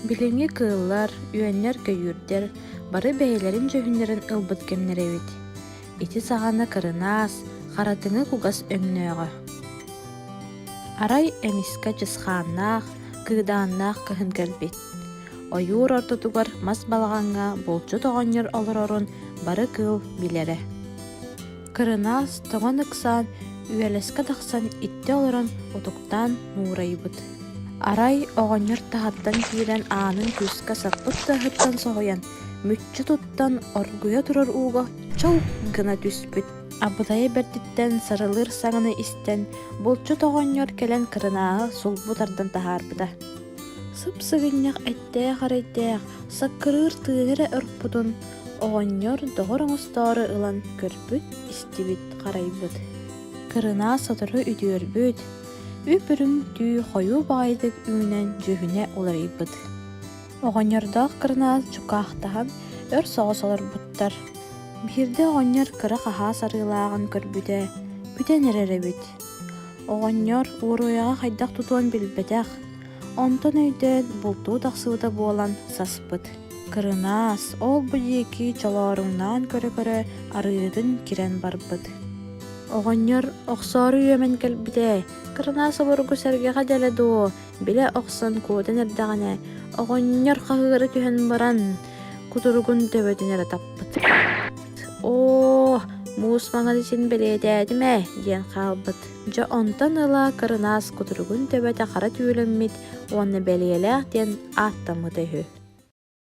Билиҥҥи кыыллар, үөннэр-көйүүрдэр бары бэйэлэрин дьүһүннэрин ылбыт кэмнэрэ эбит. Ити саҕана кырынаас, харатыҥы кугас өҥнөөҕө. Арай эмискэ дьысхааннаах, кыыдааннаах кыһын кэлбит. Ойуур ортотугар мас балаҕаҥҥа булчут оҕонньор олорорун бары кыыл билэрэ. Кырынаас тоҕон ыксаан, үөлэскэ тахсан иттэ олорон утуктаан нуурайбыт. Арай оҕонньор таһаттан киирэн аанын күүскэ саппыт саһыттан соһуйан, мүччү туттан оргуйа турар ууга чылк гына түспүт. Абытайа бэрдиттэн сарылыыр саҥаны истэн, булчут оҕонньор кэлэн кырынааҕы сулбу тардан таһаарбыта. Сыпсыгынньах эттээх-арэйдээх, саккырыыр тыыны эрэ орпутун, Оҕонньор доҕор оҥостоору ылан көрбүт-истибит, харайбыт. Кырынаа сотору үтүөрбүт, үп-үрүҥ түү хойуу баҕайытык үүнэн дьүһүнэ уларыйбыт. Оҕонньордоох кырынаас дьукаахтаһан өр соҕус олорбуттар. Биирдэ оҕонньор кыра хаһаас арыылааҕын көрбүтэ, бүтэн эрэр эбит. Оҕонньор уоруйаҕа хайдах тутуон билбэтэх, онтон өйдөөн бултуу тахсыбыта буолан саспыт. Кырынаас ол-бу диэки чолооруҥнаан көрө-көрө арыытын кирэн барбыт Оҕонньор охсоору үөмэн кэлбитэ. Кырынаас обургу сэргэҕэ дьэлэ дуо, билэ охсон куотан эрдэҕинэ, оҕонньор хаһыары түһэн баран, кутуругун төбөтүн эрэ таппыт. «Оо, муус маҥан син бэлиэтээтим ээ» диэн хаалбыт Дьэ онтон ыла кырынаас кутуругун төбөтө хара түүлэммит уонна бэлиэлээх диэн ааттаммыта үһү